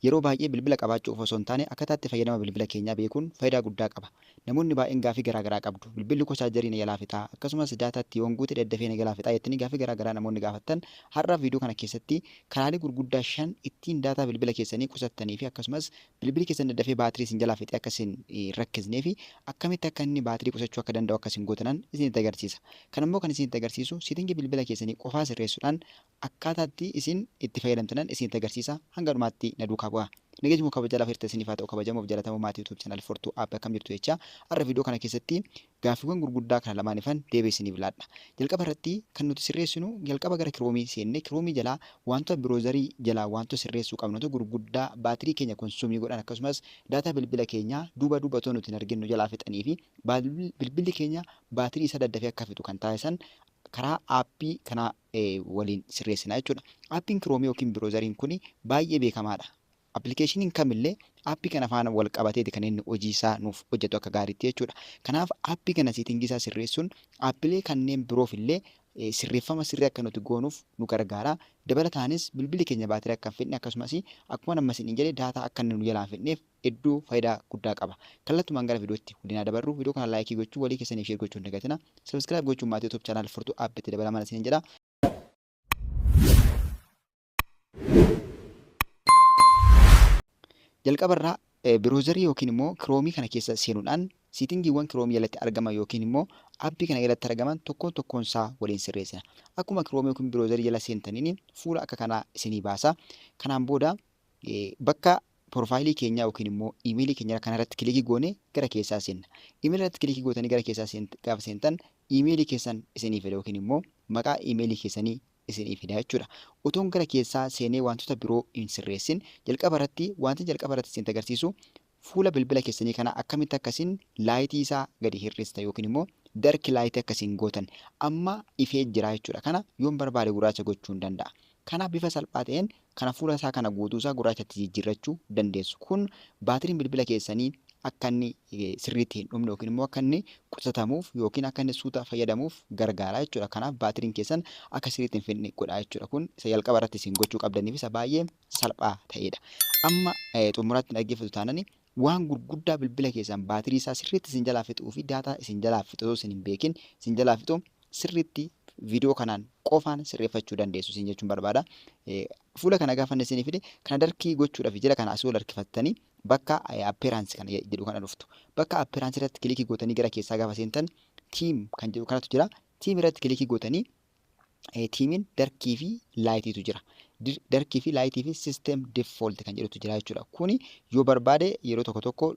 Yeroo baay'ee bilbila qabaachuu qofa osoo hin taane akkataa itti fayyadama bilbila keenyaa beekuun fayidaa guddaa qaba. Namoonni baay'een gaafii garaa garaa qabdu. Bilbilli koo chaarjarii na jalaa fixaa? Akkasumas daataa itti yoon guute daddafee na jalaa fixaa? jettanii gaafii garaa garaa namoonni gaafattan har'aaf viidiyoo kana keessatti karaalee gurguddaa shan ittiin daataa bilbila keessanii qusattanii fi akkasumas bilbili keessan daddafee baatirii isin jalaa fixee akka isin hin rakkisnee fi akkamitti akka inni baatirii qusachuu akka danda'u akka isin gootanan isinitti agarsiisa. Kana immoo kan isinitti agarsiisu seetingii bilbila keessanii qofaa sirreessuudhaan Akkaataa itti isin itti fayyadamtanan isinitti agarsiisa hanga dhumaatti na duukaa bu'aa. Nageenyi moo kabajaa lafa hirtee isiniif haa ta'u kabajamoof jalatamoo maatii YouTube channel Fortuu App akkam jirtu jechaa har'a video kana keessatti gaaffiwwan gurguddaa kana lamaanifan deebii isiniif laadha. Jalqaba irratti kan nuti sirreessinu jalqaba gara Chrome seenne Chrome jalaa waantota browser jalaa waantota sirreessuu qabnutu gurguddaa baatirii keenya consume godhan akkasumas data bilbila keenyaa duuba duuba otoo nuti hin argin nu jalaa fixanii fi bilbilli keenya baatirii isaa daddafee akka fixu kan taasisan karaa aappii kanaa waliin sirreessina jechuudha. Aappiin kiroomii yookiin biroozariin kun baay'ee beekamaadha. Appilikeeshiniin kamillee aappii kana faana wal qabateeti kan inni hojii isaa nuuf hojjetu akka gaariitti jechuudha. Kanaaf aappii kana seetingii isaa sirreessuun aappilee kanneen biroof illee sirreeffama sirrii akka nuti goonuuf nu gargaara. Dabalataanis bilbilli keenya baatirii akka hin fixne akkasumas akkuma amma isin jedhe daataa akka inni nu jalaa hin fixneef hedduu fayidaa guddaa qaba. Kallattumaan gara viidiyootti waliin haa dabarru. Viidiyoo kana laayikii gochuu, walii keessaniif sheer gochuu hin dagatina. Subscribe gochuun maatii YouTube channel Furtuu App itti dabalamaa isiniin jedha. Jalqaba irraa biroozarii yookiin immoo kiroomii kana keessa seenuudhaan siitingiiwwan kiroomii jalatti argaman yookiin immoo appii kana jalatti argaman tokkoon tokkoon isaa waliin sirreessina. Akkuma kiroomii yookiin biroozarii jala seentaniin fuula akka kanaa isinii baasa. Kanaan booda Bakka Profile keenyaa yookiin immoo email keenyaa kana irratti kilikii goone gara keessaa seenna. Email irratti kilikii gootanii gara keessaa gaafa seentan email keessan isinii fida yookiin immoo maqaa email keessanii isinii fida jechuudha. Utuun gara keessaa seenee wantoota biroo hin sirreessin jalqaba irratti wanti jalqaba irratti isin agarsiisu Fuula bilbila keessanii kana akkamitti akka isin laayitii isaa gadi hir'istan yookiin immoo dark light akka isin gootan amma ifee jira jechuudha kana yoon barbaade gurraacha gochuun danda'a kanaaf bifa salphaa ta'een kana fuula isaa kana guutuu isaa gurraachatti jijjiirrachuu dandeessu kun baatiriin bilbila keessanii akka inni sirriitti hin dhumne yookiin immoo akka inni qusatamuuf yookiin akka inni suuta fayyadamuuf gargaara jechuudha kanaaf baatiriin keessan akka sirriitti hin fidne godha jechuudha kun isa jalqaba irratti isin gochuu qabdaniif isa baay'ee salphaa ta'eedha. Amma xumuraatti dhaggeeffatu taanani waan gurguddaa bilbila keessan baatirii isaa sirriitti isin jalaa fixuu fi daataa isin jalaa fixu osoo isin hin beekin isin jalaa fixu sirriitti viidiyoo kanaan qofaan sirreeffachuu dandeessu isin jechuun barbaada. Fuula kana gaafanne isinii fide kana darkii gochuudhaaf jila kana asii ol harkifattanii bakka appeeraansi kana jedhu kana dhuftu. Bakka appeeraansi irratti kilikii gootanii gara keessaa gaafa seentan tiim kan jedhu kanatu jira. Tiim irratti kilikii gootanii tiimiin darkii fi laayitiitu jira. Darkii fi laayitii fi sisteem default kan jedhutu jira jechuudha. Kuni yoo barbaade yeroo tokko tokko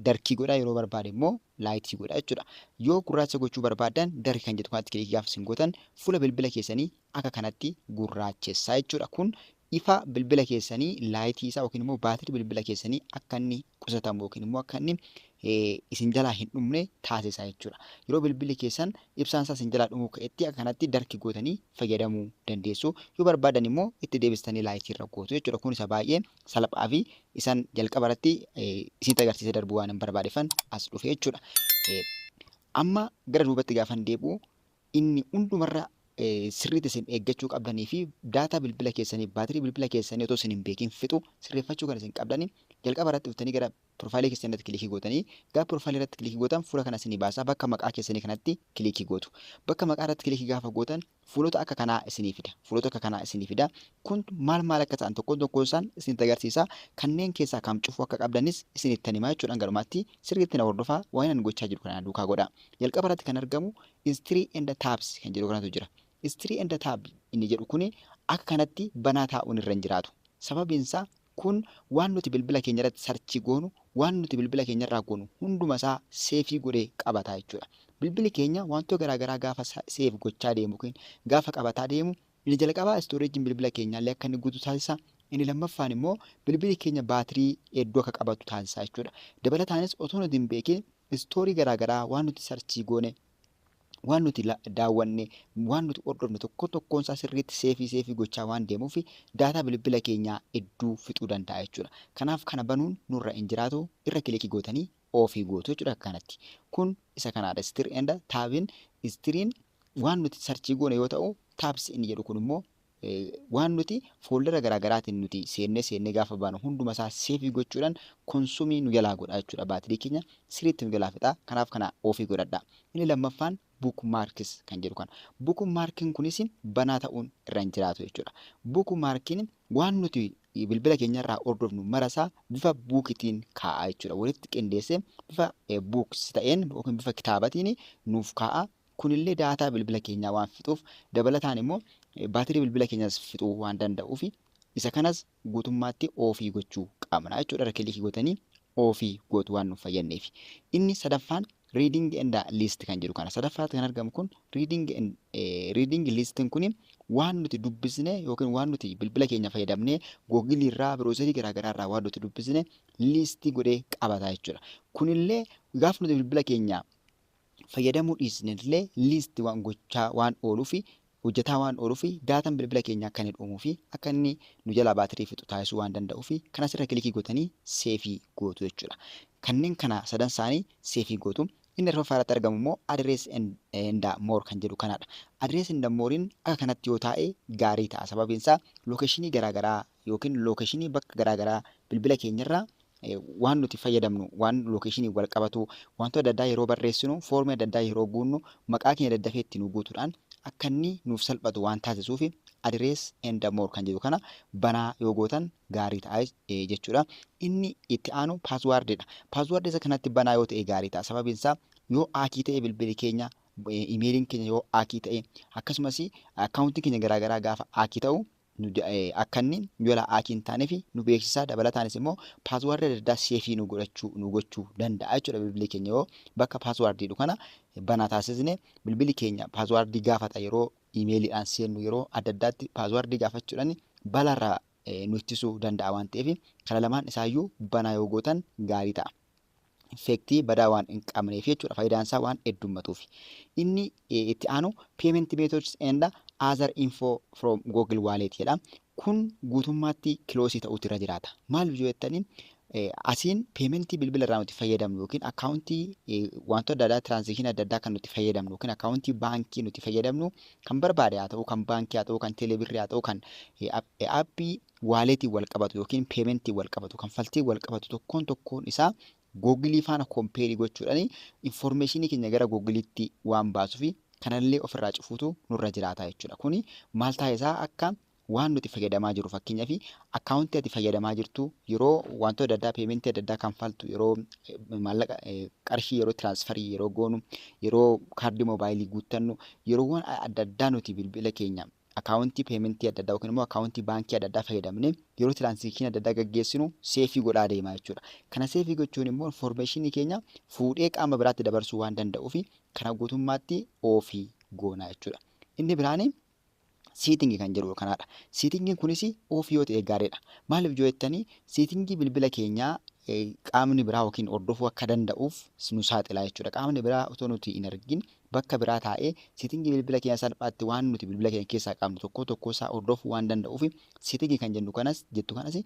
darkii godha yeroo barbaade immoo laayitii godha jechuudha. Yoo gurraacha gochuu barbaadan darkii kan jedhu kanatti kilikii gaafa isin gootan fuula bilbila keessanii akka kanatti gurraachessaa jechuudha. Kun ifa bilbila keessanii laayitii isaa yookiin immoo baatirii bilbila keessanii akka inni qusatamu yookiin immoo akka inni isin jalaa hin dhumne taasisa jechuudha. Yeroo bilbilli keessan ibsaan isaa isin jalaa dhumuu ka'etti akka kanatti darki gootanii fayyadamuu dandeessu. Yoo barbaadan immoo itti deebistanii laayitii irra gootu jechuudha. Kun isa baay'ee salphaa fi isan jalqaba irratti isinitti agarsiisee darbuu waan hin barbaadefan as dhufe jechuudha. Amma gara duubatti gaafan deebi'u inni hundumarra sirriitti isin eeggachuu qabdanii fi daataa bilbila keessanii, baatirii bilbila keessanii otoo isin hin beekin fixu sirreeffachuu kan isin qabdani jalqaba irratti dhuftanii gara piroofaayilii keessanii irratti kilikii gootanii gara piroofaayilii irratti kilikii gootan fuula kana isinii baasaa bakka maqaa keessanii kanatti kilikii gootu. Bakka maqaa irratti kilikii gaafa gootan fuulota akka kanaa isinii fida. Fuulota akka kanaa isinii fida. Kun maal maal akka ta'an tokkoon tokkoon isaan isinitti agarsiisa. Kanneen keessaa kam cufuu akka qabdanis isinittan himaa jechuudha. Hanga dhumaatti sirriitti na hordofaa waan ani gochaa jiru kana duukaa godhaa. Jalqaba irratti kan argamu History and Tabs kan jedhu kanatu jira. History and Tab inni jedhu kuni akka kanatti banaa taa'uun irra hin jiraatu. Sababiin isaa kun waan nuti bilbila keenya irratti sarchii goonu, waan nuti bilbila keenya irraa goonu hunduma isaa seefii godhee qabata jechuudha. Bilbili keenya wantoota garaa garaa gaafa seef gochaa deemu yookiin gaafa qabataa deemu inni jalqabaa istooreejiin bilbila keenyaallee akka inni guutu taasisa. Inni lammaffaan immoo bilbili keenya baatirii hedduu akka qabatu taasisa jechuudha. Dabalataanis otoo nuti hin beekiin Story garaa garaa waan nuti sarchii goone, waan nuti daawwanne, waan nuti hordofne tokkoon tokkoon isaa sirriitti seefii seefii gochaa waan deemuuf daataa bilbila keenyaa hedduu fixuu danda'a jechuudha. Kanaaf kana banuun nurra hin jiraatu irra kiliki gootanii oofii gootu jechuudha akka kanatti. Kun isa kanaadha stir and taabin. Istiriin waan nuti sarchii goone yoo ta'u taabs inni jedhu kun immoo Waan nuti fooldara garaa garaatiin nuti seennee seennee gaafa baanu hunduma isaa seevii gochuudhaan konsumii nu jalaa godha jechuudha. Baatirii keenya sirriitti nu jalaa fixa. Kanaaf kana ofii godhadha. Inni lammaffaan book marks kan jedhu kana. Book markin kunis banaa ta'uun irra hin jiraatu jechuudha. Book markin waan nuti bilbila keenyarraa hordofnu marasaa bifa buukitiin kaa'a jechuudha. Walitti qindeessee bifa buuks ta'een yookiin bifa kitaabatiin nuuf kaa'a. Kunillee daataa bilbila keenyaa waan fixuuf dabalataan immoo baatirii bilbila keenyaas fixuu waan danda'uuf isa kanas guutummaatti off gochuu qabna jechuudha. Irra kiliikii gootanii off gootu waan nuuf fayyadneef. Inni sadaffaan reading and list kan jedhu kana. Sadaffaatti kan argamu kun reading, reading listin kun waan nuti dubbisne yookiin waan nuti bilbila keenya fayyadamnee googilii irraa biroozerii garaagaraa irraa waan nuti dubbisne liistii godhee qabata jechuudha. Kunillee gaaf nuti bilbila keenya fayyadamuu dhiisnellee list waan gochaa waan ooluufi hojjetaa waan ooluufi daatan bilbila keenyaa akka inni dhuumuufi akka inni nu jalaa baatirii fixu taasisuu waan danda'uufi kan asirra kilikii gootanii seefii gootu jechuudha. Kanneen kana sadan isaanii seefii gootu. Inni arfaffaa irratti argamu immoo address and more kan jedhu kanaadha. Address and more'n akka kanatti yoo taa'e gaarii ta'a. Sababiin isaa lookeshinii garaagaraa yookiin lookeshinii bakka garaa garaa bilbila keenya irra waan nuti fayyadamnu waan lookeshiniin wal qabatu wantoota adda addaa yeroo barreessinu foormii adda addaa yeroo guunnu maqaa keenya daddafee itti nu guutuudhaan akka inni nuuf salphatu waan taasisuuf adirees and more kan jedhu kana banaa yoo gootan gaarii ta'a jechuudha. Inni itti aanu paaswaardidha. Paaswaardii isa kanatti banaa yoo ta'e gaarii ta'a. Sababiin isaa yoo haakii ta'e bilbili keenya imeeliin keenya yoo haakii ta'e akkasumas akkaawuntii keenya garaagaraa gaafa haakii ta'u nu akka inni yola aki hin taanefi nu beeksisaa dabalataanis immoo password adda addaa seefii nu godhachuu nu gochuu danda'a jechuudha bilbilli keenya yoo bakka password jedhu kana banaa taasisne bilbilli keenya password gaafata yeroo imeeliidhaan seennu yeroo adda addaatti password gaafachuudhaan balarraa nu ittisuu danda'a waan ta'eef kana lamaan isaayyuu banaa yoo gootan gaarii ta'a. effect badaa waan hin qabneef jechuudha. Faayidaan isaa waan heddummatuuf. Inni itti aanu payment methods and other info from Google Wallet jedha. Kun guutummaatti kiloosii ta'uutu irra jiraata. Maal yoo jettanii asiin peementii bilbila irraa nuti fayyadamnu yookiin akkaawuntii wantoota adda addaa tiraansakshini adda addaa kan nuti fayyadamnu yookiin akkaawuntii baankii nuti fayyadamnu kan barbaade haa ta'u kan baankii haa ta'u kan teeleebirrii haa ta'u kan aappii waaleetiin wal qabatu yookiin peementiin wal qabatu, kanfaltiin wal qabatu tokkoon tokkoon isaa Google faana kompeerii gochuudhaan information keenya gara Google'tti waan baasufi kanallee ofirraa cufuutu nurra jiraata jechuudha. Kuni maal taasisaa akka waan nuti fayyadamaa jirru fakkeenyaaf akkaawuntii ati fayyadamaa jirtu yeroo wantoota adda addaa peementii adda addaa kanfaltu yeroo maallaqa qarshii yeroo tiraansfarii yeroo goonu yeroo kaardii moobaayilii guuttannu yeroowwan adda addaa nuti bilbila keenya akaawuntii peementii adda addaa yookiin immoo akaawuntii baankii adda addaa fayyadamne yeroo tiraansaakshinii adda addaa gaggeessinu seefii godhaa deemaa jechuudha. Kana seefii gochuun immoo infoormeeshinii keenya fuudhee qaama biraatti dabarsuu waan danda'uuf kana guutummaatti oofii goona jechuudha. Inni biraan siitingi kan jedhu kanaadha. Siitingiin kunis oofii yoo ta'e gaariidha. Maaliif yoo jettanii siitingii bilbila keenyaa qaamni biraa yookiin hordofuu akka danda'uuf nu saaxilaa jechuudha. Qaamni biraa otoo nuti hin argin bakka biraa taa'ee setting bilbila keenya salphaatti waan nuti bilbila keenya keessaa qabnu tokkoo tokkoo isaa hordofuu waan danda'uuf setting kan jennu kanas jettu kanas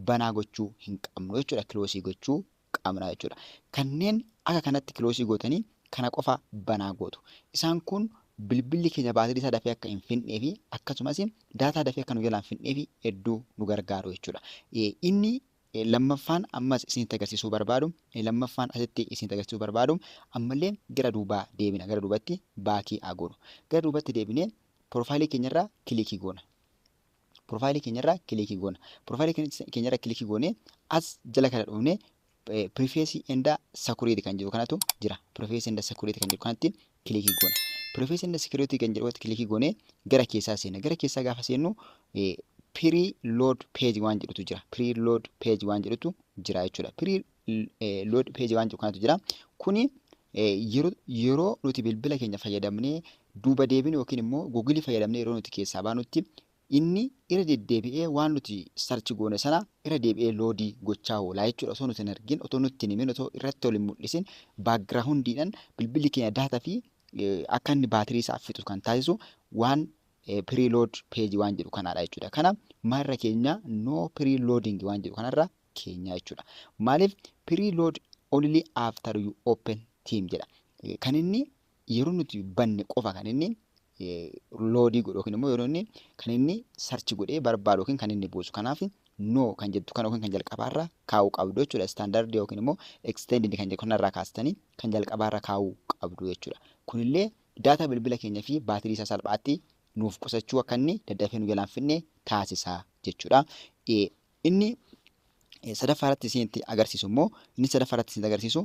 banaa gochuu hin qabnu jechuudha kiloosii gochuu qabna jechuudha. Kanneen akka kanatti kiloosii gootanii kana qofa banaa gootu. Isaan kun bilbilli keenya baatirii isaa dafee akka hin fixnee fi akkasumas daataa dafee akka nu jalaan fixnee fi hedduu nu gargaaru jechuudha. Inni Lammaffaan ammas isinitti agarsiisuu barbaadu, lammaffaan asitti isinitti agarsiisuu barbaadu, ammallee gara duubaa deebina, gara duubatti back haa goonu. Gara duubatti deebinee piroofaayilii keenyarraa kiliikii goona. Piroofaayilii keenyarraa kiliikii goona. Piroofaayilii keenyarraa kiliikii goonee as jala kana dhufnee Preface and Security kan jiru kanatu jira. Preface and Security kan jiru kanatti kilikii goona. Privacy and security kan jedhu kilikii goonee gara keessaa seenna. Gara keessaa gaafa seennu pre-load page waan jedhutu jira. Pre-load page waan jedhutu jira jechuudha. Pre-load page waan jedhu kanatu jira. Kuni yeroo nuti bilbila keenya fayyadamnee duuba deebinu yookiin immoo Google fayyadamnee yeroo nuti keessaa baanutti Inni irra deddeebi'ee waan nuti search goone sana irra deebi'ee load gochaa oola jechuudha. Osoo nuti hin argin, otoo nutti hin himin, otoo irratti ol hin mul'isin background'dhaan bilbilli keenya data fi akka inni baatirii isaa fixu kan taasisu waan preload page waan jedhu kanaadha jechuudha. Kana maalirra keenya no preloading waan jedhu kanarra keenya jechuudha. Maaliif preload only after you open team jedha. Kan inni yeroo nuti banne qofa kan inni loodii godhu yookiin immoo yeroo inni kan inni sarchi godhee barbaadu yookiin kan inni buusu. Kanaaf no kan jettu kana yookiin kan jalqabaarra kaa'uu qabdu jechuudha. Istaandardii yookiin immoo eksteendii kan jedhu kanarraa kaastanii kan jalqabaarra kaa'uu qabdu jechuudha. Kunillee daataa bilbila keenya fi baatirii isaa salphaatti nuuf qusachuu akka inni daddafee nu jalaan fidne taasisa jechuudha. Inni sadaffaa irratti isinitti agarsiisu immoo inni sadaffaa irratti isinitti agarsiisu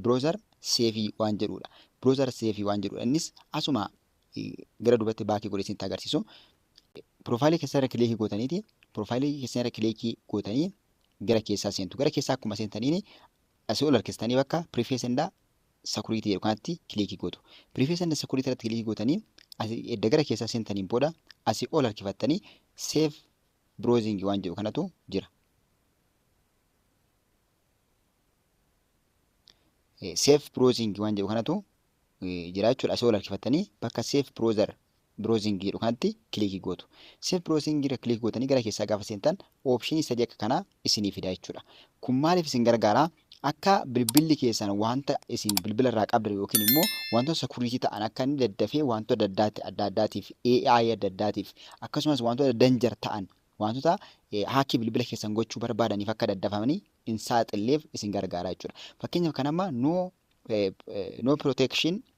browser save waan jedhudha. Browser save waan jedhudha. Innis asuma gara duubatti baakii godhee isinitti agarsiisu. Piroofaayilii keessan irra kileekii gootaniiti. Piroofaayilii keessan irra kileekii gootanii gara keessaa seentu. Gara keessaa akkuma seentaniin asii ol harkistanii bakka preface and security jedhu kanatti kileekii gootu. Preface and security irratti kileekii gootanii edda gara keessaa seentaniin booda asii ol harkifattanii save browsing waan jedhu kanatu jira. Safe browsing waan jedhu kanatu jira jechuudha. Asii ol harkifattanii bakka safe browser browsing jedhu kanatti kilikii gootu. Safe browsing irra kilik gootanii gara keessaa gaafa seentan option sadii akka kanaa isinii fida jechuudha. Kun maaliif isin gargaara? Akka bilbilli keessan wanta isin bilbila irraa qabdan yookiin immoo wantoota security ta'an akka inni daddafee wantoota adda addaatti adda addaatiif AI adda addaatiif akkasumas wantoota danger ta'an wantoota haakii bilbila keessan gochuu barbaadaniif akka daddafamanii hin saaxilleef isin gargaara jechuudha. Fakkeenyaaf kan amma no no protection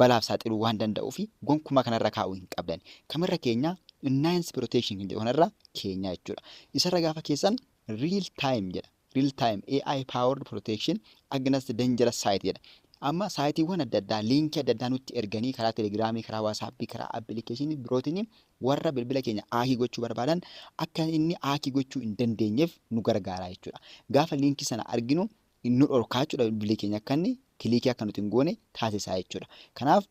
balaaf saaxiluu waan danda'uuf gonkumaa kanarra kaa'uu hin qabdan. Kamirra keenya nines protection kan jedhu kanarra keenya jechuudha. Isarra gaafa keessan real time jedha. Real time AI powered protection against dangerous site jedha. Amma saayitiiwwan adda addaa liinkii adda addaa nutti erganii karaa telegiraamii, karaa waasaappii, karaa appilikeeshinii birootiin warra bilbila keenya aakii gochuu barbaadan akka inni aakii gochuu hin dandeenyeef nu gargaara jechuudha. Gaafa liinkii sana arginu nu dhorkaa jechuudha bilbilli keenya akka inni kiliikii akka nuti hin goone taasisaa jechuudha. Kanaaf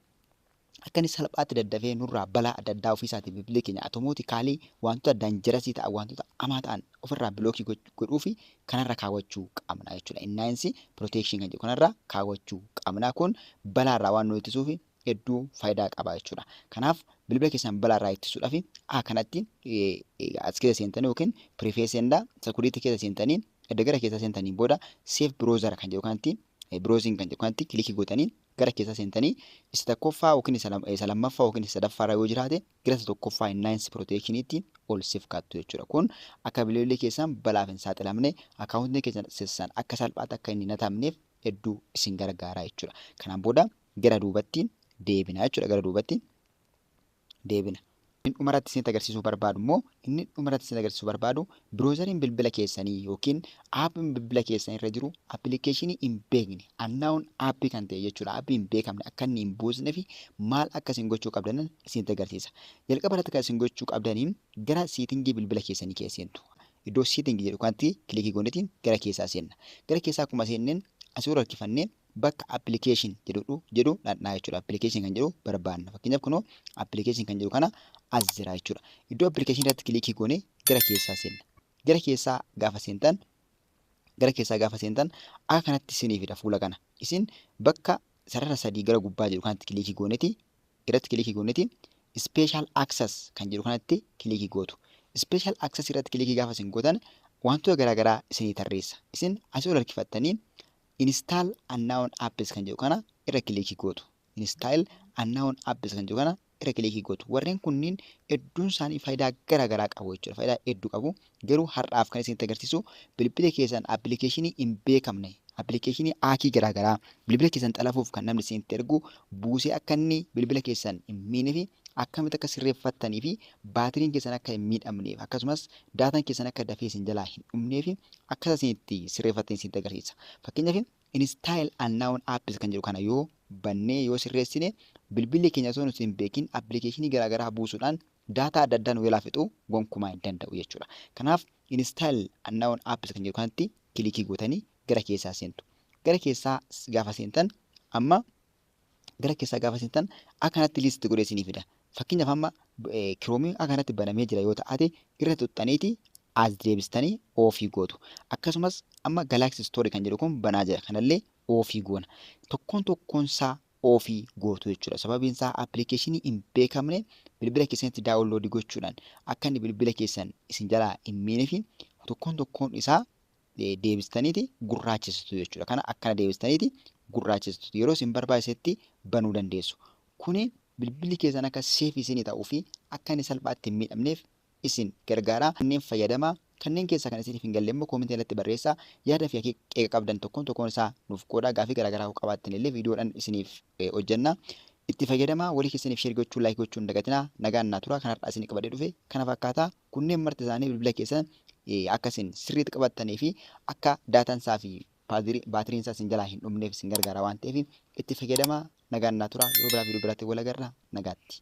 akka inni salphaatti daddafee nurraa balaa adda addaa ofiisaatiin bilbilli keenya atomootikaalii wantoota danjarasii ta'an wantoota amaa ta'an ofirraa bilookii godhuu fi kanarra kaawwachuu qabna jechuudha. Innaayinsi pirooteekshin kan jedhu kanarra kaawwachuu qabna. Kun balaarraa waan nu ittisuuf hedduu faayidaa qaba jechuudha. Kanaaf bilbila keessan balaarraa ittisuudhaaf A kanatti as keessa seentanii yookiin piriifeesenda sakuriitii keessa seentanii Edda gara keessaa seentaniin booda Save Browser kan jedhu kanatti Browsing kan jedhu kanatti kilikii gootanii gara keessaa seentanii isa tokkoffaa yookiin isa lammaffaa yookiin isa sadaffaa irra yoo jiraate gara isa tokkoffaa Enhance Protection itti ol siif kaattu jechuudha. Kun akka bilbilli keessan balaaf hin saaxilamne akkaawuntiin keessan sessan akka salphaatti akka inni hin hatamneef hedduu isin gargaara jechuudha. Kanaan booda gara duubatti deebina jechuudha gara duubatti. deebina. Inni dhumarratti isinitti agarsiisuu barbaadu immoo inni dhumarratti isinitti agarsiisuu barbaadu biroozariin bilbila keessanii yookiin aappiin bilbila keessanii irra jiru appilikeeshinii hin beekne annaawun aappii kan ta'e jechuudha. Aappii hin beekamne akka inni hin buusne fi maal akka isin gochuu qabdanan isinitti agarsiisa. Jalqaba irratti kan isin gochuu qabdanii gara siitingii bilbila keessanii keessa seentu. Iddoo siitingii jedhu kanatti kilikii goonetiin gara keessaa seenna. Gara keessaa akkuma seenneen asii ol harkifannee bakka application jedhu jedhu dhaqnaa jechuudha. Application kan jedhu barbaanna. Fakkeenyaaf kunoo application kan jedhu kana as jira jechuudha. Iddoo application irratti kilikii goonee gara keessaa seenna. Gara keessaa gaafa seentan gara keessaa gaafa seentan akka kanatti isinii fida fuula kana. Isin bakka sarara sadii gara gubbaa jiru kanatti kilikii gooneti irratti kilikii gooneti special access kan jedhu kanatti kilikii gootu. Special access irratti kilikii gaafa isin gootan wantoota garaagaraa isinii tarreessa. Isin asii ol harkifattanii Install unknown apps kan jedhu kana irra kiliikii gootu. Install unknown apps kan jedhu kana irra kiliikii gootu. Warreen kunniin hedduun isaanii faayidaa gara garaa qabu jechuudha. Faayidaa hedduu qabu. Garuu har'aaf kan isinitti agarsiisu bilbila keessan appilikeeshinii hin beekamne appilikeeshinii haakii garaa garaa bilbila keessan xalafuuf kan namni isinitti ergu buusee akka inni bilbila keessan hin miine fi akkamitti akka sirreeffattanii fi baatiriin keessan akka hin miidhamneef akkasumas daataan keessan akka dafee isin jalaa hin dhumnee fi akkasa isin itti sirreeffattan isinitti agarsiisa. Fakkeenyaaf install and noun apps kan jedhu kana yoo bannee yoo sirreessine bilbilli keenya osoo nuti hin beekin appilikeeshinii garaagaraa buusuudhaan daataa adda addaa nu jalaa fixu gonkumaa hin danda'u jechuudha. Kanaaf install and noun apps kan jedhu kanatti kilikii gootanii gara keessaa seentu. Gara keessaa gaafa seentan amma gara keessaa gaafa seentan akka kanatti liist godhee isinii fida. Fakkeenyaaf amma kiroomiin akka kanatti banamee jira yoo ta'ate irra tuxxaniiti as deebistanii oofii gootu. Akkasumas amma Galaxy Store kan jedhu kun banaa jira. Kanallee oofii goona. Tokkoon tokkoon isaa oofii gootu jechuudha. Sababiin isaa appilikeeshinii hin beekamne bilbila keessanitti daawunloodii gochuudhaan akka inni bilbila keessan isin jalaa hin miineef tokkoon tokkoon isaa deebistaniiti gurraachesitu jechuudha. Kana akkana deebistaniiti gurraachesitu yeroo isin barbaachisetti banuu dandeessu. Kuni bilbilli keessan akka seef isin ta'uu fi akka inni salphaatti hin miidhamneef isin gargaara. Kanneen fayyadama kanneen keessaa kan isiniif hin galle immoo koomentii irratti barreessaa yaada fi qeeqa qabdan tokkoon tokkoon isaa nuuf qoodaa gaafii garaagaraa qabaattan illee viidiyoodhaan isiniif hojjenna. Itti fayyadamaa walii keessaniif share gochuu like gochuu hin dagatinaa nagaan naa turaa kan hardhaa isinii qabadhee dhufe kana fakkaataa kunneen marti isaanii bilbila keessan akka isin sirriitti qabattanii fi akka daataan isaa fi baatiriin isaa isin jalaa hin dhumneef isin gargaara waan ta'eef itti fayyadamaa nagaan naa turaa yeroo biraa viidiyoo biraatiin wal agarra nagaatti.